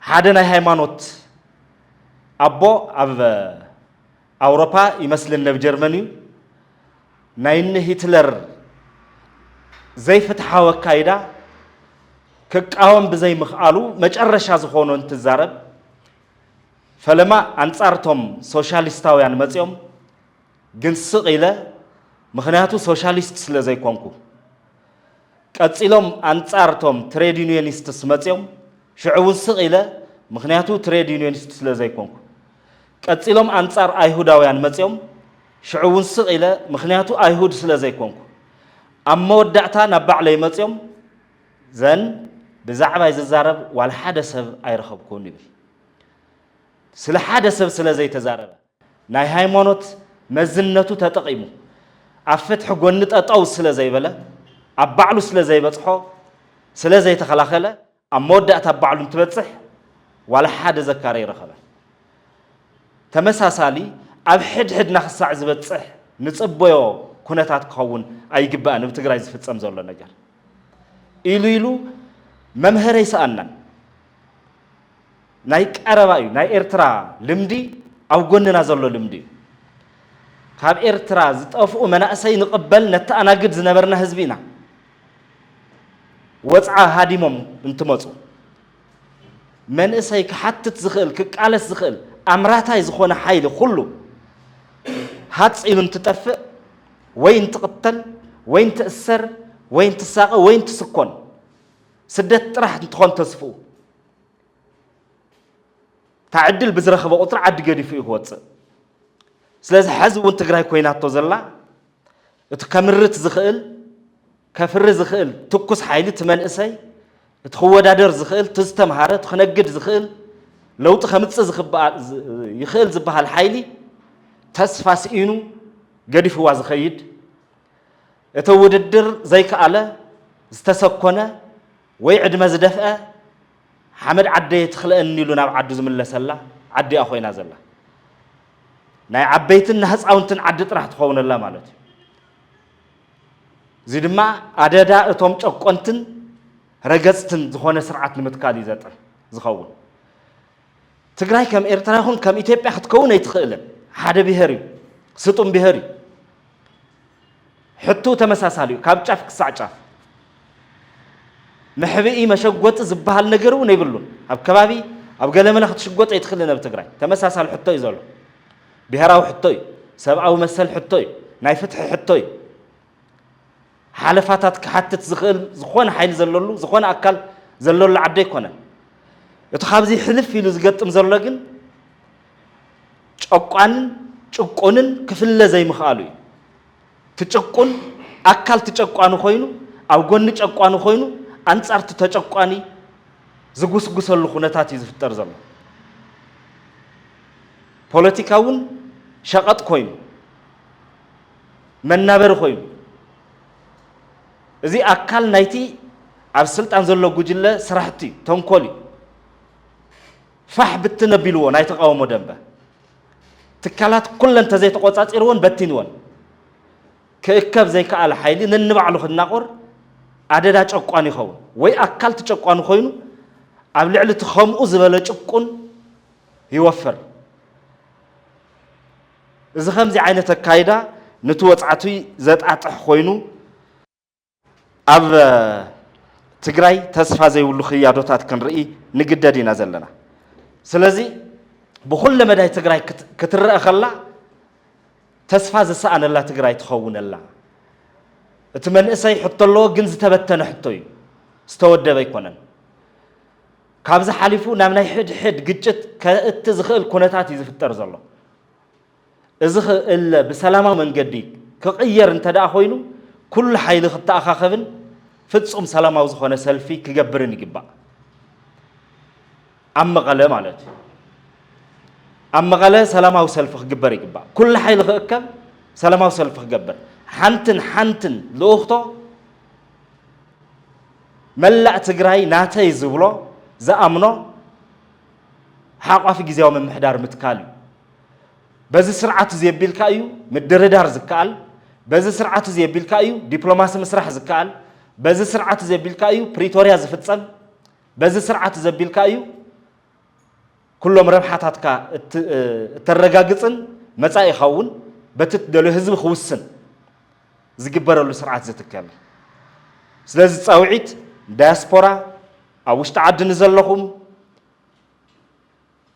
ሓደ ናይ ሃይማኖት ኣቦ ኣብ ኣውሮፓ ይመስልን ነብ ጀርመን እዩ ናይ እኒ ሂትለር ዘይፍትሓዊ ኣካይዳ ክቃወም ብዘይምኽኣሉ መጨረሻ ዝኾኖ እንትዛረብ ፈለማ ኣንጻር እቶም ሶሻሊስታውያን መጺኦም ግን ስቕ ኢለ ምኽንያቱ ሶሻሊስት ስለ ዘይኮንኩ። ቀጺሎም ኣንጻር እቶም ትሬድ ዩኒየኒስትስ መጺኦም፣ ሽዑ እውን ስቕ ኢለ ምኽንያቱ ትሬድ ዩኒየኒስት ስለ ዘይኮንኩ። ቀጺሎም ኣንጻር ኣይሁዳውያን መጺኦም፣ ሽዑ እውን ስቕ ኢለ ምኽንያቱ ኣይሁድ ስለ ዘይኮንኩ። ኣብ መወዳእታ ናብ ባዕለይ መጺኦም፣ ዘን ብዛዕባይ ዝዛረብ ዋላ ሓደ ሰብ ኣይረኸብኩን ይብል። ስለ ሓደ ሰብ ስለ ዘይተዛረበ። ናይ ሃይማኖት መዝነቱ ተጠቒሙ ኣብ ፍትሒ ጎኒ ጠጠው ስለ ዘይበለ፣ ኣብ ባዕሉ ስለ ዘይበጽሖ፣ ስለ ዘይተኸላኸለ፣ ኣብ መወዳእታ ኣብ ባዕሉ እንትበጽሕ ዋላ ሓደ ዘካሪ ኣይረኸበን። ተመሳሳሊ ኣብ ሕድሕድና ክሳዕ ዝበጽሕ ንጽበዮ ኩነታት ክኸውን ኣይግባእን እብ ትግራይ ዝፍጸም ዘሎ ነገር ኢሉ ኢሉ መምሀሪ ኣይሰኣናን። ናይ ቀረባ እዩ ናይ ኤርትራ ልምዲ ኣብ ጎንና ዘሎ ልምዲ እዩ ካብ ኤርትራ ዝጠፍኡ መናእሰይ ንቅበል ነተኣናግድ ዝነበርና ህዝቢ ኢና ወጽዓ ሃዲሞም እንትመጹ መንእሰይ ክሓትት ዝኽእል ክቃለስ ዝኽእል ኣምራታይ ዝኾነ ሓይሊ ኩሉ ሃጽ ኢሉ እንትጠፍእ ወይ እንትቕተል ወይ እንትእሰር ወይ እንትሳቐ ወይ እንትስኮን ስደት ጥራሕ እንትኾን ተስፍኡ እታ ዕድል ብዝረኸበ ቁፅሪ ዓዲ ገዲፉ እዩ ክወፅእ ስለዚ ሕዚ እውን ትግራይ ኮይናቶ ዘላ እቲ ከምርት ዝኽእል ከፍሪ ዝኽእል ትኩስ ሓይሊ እቲ መንእሰይ እቲ ክወዳደር ዝኽእል እቲ ዝተምሃረ እቲ ክነግድ ዝኽእል ለውጢ ከምፅእ ይኽእል ዝበሃል ሓይሊ ተስፋ ስኢኑ ገዲፍዋ ዝኸይድ እቲ ውድድር ዘይከኣለ ዝተሰኮነ ወይ ዕድመ ዝደፍአ ሓመድ ዓደየ ትኽለእኒ ኢሉ ናብ ዓዱ ዝምለሰላ ዓዲ'ያ ኮይና ዘላ። ናይ ዓበይትን ናህጻውንትን ዓዲ ጥራሕ ትኸውነላ ማለት እዩ። እዚ ድማ ኣደዳ እቶም ጨቆንትን ረገጽትን ዝኾነ ስርዓት ንምትካል እዩ ዘጥር ዝኸውን። ትግራይ ከም ኤርትራ ይኹን ከም ኢትዮጵያ ክትከውን ኣይትኽእልን። ሓደ ብሄር እዩ፣ ስጡም ብሄር እዩ። ሕቶኡ ተመሳሳሊ እዩ ካብ ጫፍ ክሳዕ ጫፍ። መሕብኢ መሸጎጢ ዝበሃል ነገር እውን የብሉን። ኣብ ከባቢ ኣብ ገለመለ ክትሽጎጥ ኣይትኽእልን ኣብ ትግራይ። ተመሳሳሊ ሕቶ እዩ ዘሎ። ብሄራዊ ሕቶ እዩ። ሰብኣዊ መሰል ሕቶ እዩ። ናይ ፍትሒ ሕቶ እዩ። ሓለፋታት ክሓትት ዝኽእል ዝኾነ ሓይሊ ዘለሉ ዝኾነ ኣካል ዘለሉ ዓዲ ኣይኮነን። እቲ ካብዚ ሕልፍ ኢሉ ዝገጥም ዘሎ ግን ጨቋንን ጭቁንን ክፍለ ዘይምኽኣሉ እዩ። ትጭቁን ኣካል ትጨቋኒ ኮይኑ ኣብ ጎኒ ጨቋኒ ኮይኑ ኣንጻር እቲ ተጨቋኒ ዝጉስጉሰሉ ኩነታት እዩ ዝፍጠር ዘሎ። ፖለቲካ እውን ሸቐጥ ኮይኑ መናበሪ ኮይኑ እዚ ኣካል ናይቲ ኣብ ስልጣን ዘሎ ጉጅለ ስራሕቲ እዩ፣ ተንኮል እዩ። ፋሕ ብትን ኣቢልዎ ናይ ተቓውሞ ደንበ። ትካላት ኩለን ተዘይተቖጻጺርዎን በቲንወን። ክእከብ ዘይከኣለ ሓይሊ ነንባዕሉ ክናቖር ኣደዳ ጨቋኒ ይኸውን፣ ወይ ኣካል እቲ ጨቋኒ ኮይኑ ኣብ ልዕሊ እቲ ከምኡ ዝበለ ጭቁን ይወፍር። እዚ ከምዚ ዓይነት ኣካይዳ ነቲ ወጽዓቲ ዘጣጥሕ ኮይኑ፣ ኣብ ትግራይ ተስፋ ዘይብሉ ክያዶታት ክንርኢ ንግደድ ኢና ዘለና። ስለዚ ብኹለ መዳይ ትግራይ ክትረአ ከላ ተስፋ ዝሰኣነላ ትግራይ ትኸውን ኣላ። እቲ መንእሰይ ሕቶ ኣለዎ፣ ግን ዝተበተነ ሕቶ እዩ፣ ዝተወደበ ኣይኮነን። ካብዚ ሓሊፉ ናብ ናይ ሕድሕድ ግጭት ከእቲ ዝኽእል ኩነታት እዩ ዝፍጠር ዘሎ። እዚ ክእለ ብሰላማዊ መንገዲ ክቕየር እንተድኣ ኮይኑ ኩሉ ሓይሊ ክተኣኻኸብን ፍፁም ሰላማዊ ዝኾነ ሰልፊ ክገብርን ይግባእ። ኣብ መቐለ ማለት እዩ። ኣብ መቐለ ሰላማዊ ሰልፊ ክግበር ይግባእ። ኩሉ ሓይሊ ክእከብ ሰላማዊ ሰልፊ ክገብር ሓንትን ሓንትን ልኡኽቶ መላእ ትግራይ ናተይ ዝብሎ ዝኣምኖ ሓቋፊ ግዜያዊ ምምሕዳር ምትካል እዩ። በዚ ስርዓት እዚ ኣቢልካ እዩ ምድርዳር ዝከኣል፣ በዚ ስርዓት እዚ ኣቢልካ እዩ ዲፕሎማሲ ምስራሕ ዝከኣል፣ በዚ ስርዓት እዚ ኣቢልካ እዩ ፕሪቶርያ ዝፍፀም፣ በዚ ስርዓት እዚ ኣቢልካ እዩ ኩሎም ረብሓታትካ እተረጋግፅን መፃኢኻ እውን በቲ እትደልዮ ህዝቢ ክውስን ዝግበረሉ ስርዓት ዝትከል እዩ። ስለዚ ፃውዒት ዳያስፖራ ኣብ ውሽጢ ዓዲ ንዘለኹም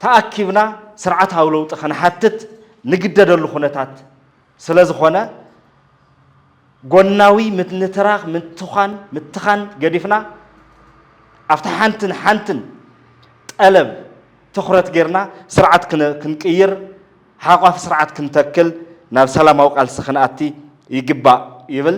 ተኣኪብና ስርዓታዊ ለውጢ ክንሓትት ንግደደሉ ኩነታት ስለዝኾነ ጎናዊ ምንትራኽ፣ ምትዃን፣ ምትኻን ገዲፍና ኣብታ ሓንትን ሓንትን ጠለብ ትኹረት ገይርና ስርዓት ክንቅይር፣ ሓቋፊ ስርዓት ክንተክል፣ ናብ ሰላማዊ ቃልሲ ክንኣቲ ይግባእ ይብል።